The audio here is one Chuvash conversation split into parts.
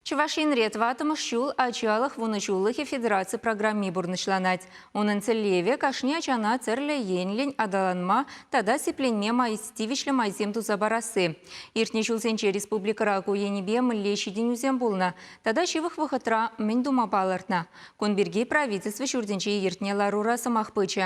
Чӑваш Енре тӑваттӑмӗш ҫул Ачалӑх вунӑҫуллӑхӗ федераци программи пурнӑҫланать. Унӑн тӗллевӗ, кашни ачана тӗрлӗ енлӗн аталанма тата сипленме май, тивӗҫлӗ майсем туса парасси. Иртнӗ ҫулсенче республикӑра ку енӗпе мӗнле ҫитӗнӳсем пулнӑ тата ҫывӑх вӑхӑтра мӗн тума палӑртнӑ? Кун пирки Правительство ҫуртӗнче иртнӗ ларура сӑмах пычӗ.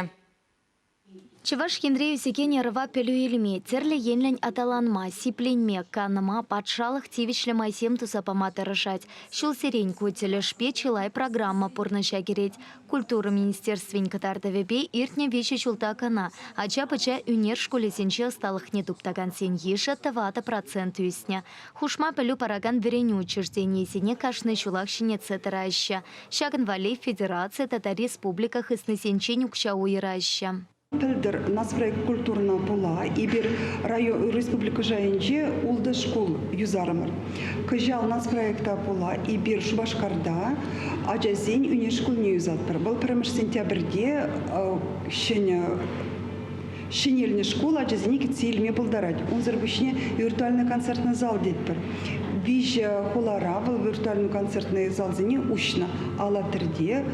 Чӑваш Енре ӳсекен ӑрӑва пӗлӳ илме, тӗрлӗ енлӗн аталанма, сипленме, канма, патшалӑх тивӗҫлӗ майсем туса пама тӑрӑшать. Ҫулсерен ку тӗлӗшпе чылай программа пурнӑҫа кӗрет. Культура министерствин кӑтартӑвӗпе иртнӗ виҫӗ ҫулта кӑна ача-пӑча ӳнер шкулӗсенче ӑсталӑхне туптакансен йышӗ тӑватӑ процент ӳснӗ. Хушма пӗлӳ паракан вӗренӳ учрежденийӗсене кашни ҫулах ҫӗнетсе тӑраҫҫӗ. Ҫакӑн валли федераци тата республика хыснисенчен укҫа уйӑраҫҫӗ. Пӗлтӗр Нацпроект культурӑна пула эпир район, республика шайӗнче ултӑ шкул юсарӑмӑр. Кӑҫал нацпроекта пула эпир Шупашкарта ачасен ӳнер шкулне юсатпӑр. Вӑл пӗрремӗш сентябрьте ҫӗнӗ Ҫӗнелнӗ шкул ачасене кӗтсе илме пултарать. Унсӑр пуҫне виртуальнӑй концертный зал тетпӗр. Виҫӗ хулара вӑл виртуальнӑй-концертнӑй залсене уҫнӑ. Алатырьте,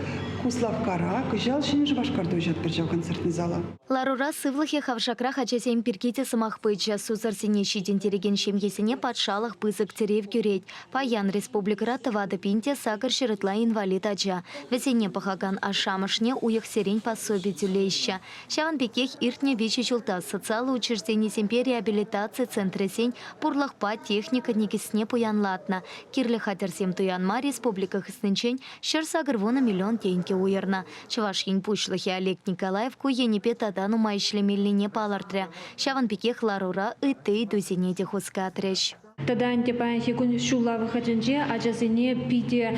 Куславккара, кӑҫал Ҫӗнӗ Шупашкарта уҫатпӑр ҫав концертный зала. Ларура сывлӑхӗ хавшакрах ачасем пирки те сӑмах пычӗ. Сусӑрсене ҫитӗнтерекен ҫемьесене патшалӑх пысӑк тӗрев кӳрет. Паян республикӑра тӑватӑ пин те сакӑр ҫӗр ытла инвалид ача, вӗсене пӑхакан ашшӗ-амӑшне уйӑхсерен пособи тӳлеҫҫӗ. Ҫавӑн пекех иртнӗ виҫӗ ҫулта социаллӑ учрежденисемпе реабилитаци центрӗсен пурлӑхпа техника никӗсне пуянлатнӑ, кирлӗ хатӗрсем туянма республика хыснинчен ҫӗр-сакӑр вунӑ миллион тенкӗ уйӑрнӑ. Чӑваш Ен Пуҫлӑхӗ Олег Николаев ку енӗпе тата нумай ӗҫлемеллине палӑртрӗ. Ҫавӑн пекех ларура ытти ыйтусене те хускатрӗҫ. Тата ӗнтӗ паянхи кун ҫулла вӑхӑтӗнче ачасене питӗ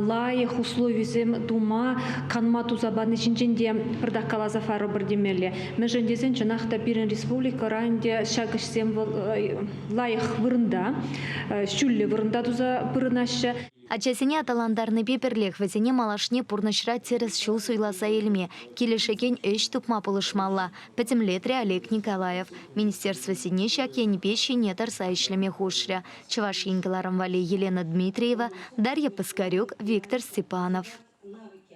лайӑх условисем тума, канма туса пани ҫинчен те пӗртак каласа парӑпӑр темелле. Мӗншӗн тесен чӑнах та пирӗн республикӑра ӗнтӗ ҫак ӗҫсем лайӑх вырӑнта, ҫӳллӗ вырӑнта туса пурӑнаҫҫӗ. Ачасене аталантарнипе пӗрлех вӗсене малашне пурнӑҫра тӗрӗс ҫул суйласа илме, килӗшекен ӗҫ тупма пулӑшмалла, пӗтӗмлетрӗ Олег Николаев. Министерствӑсене ҫак енӗпе ҫине тӑрса ӗҫлеме хушрӗ Чӑваш Ен кӑларӑм валли Елена Дмитриева, Дарья Паскарюк, Виктор Степанов.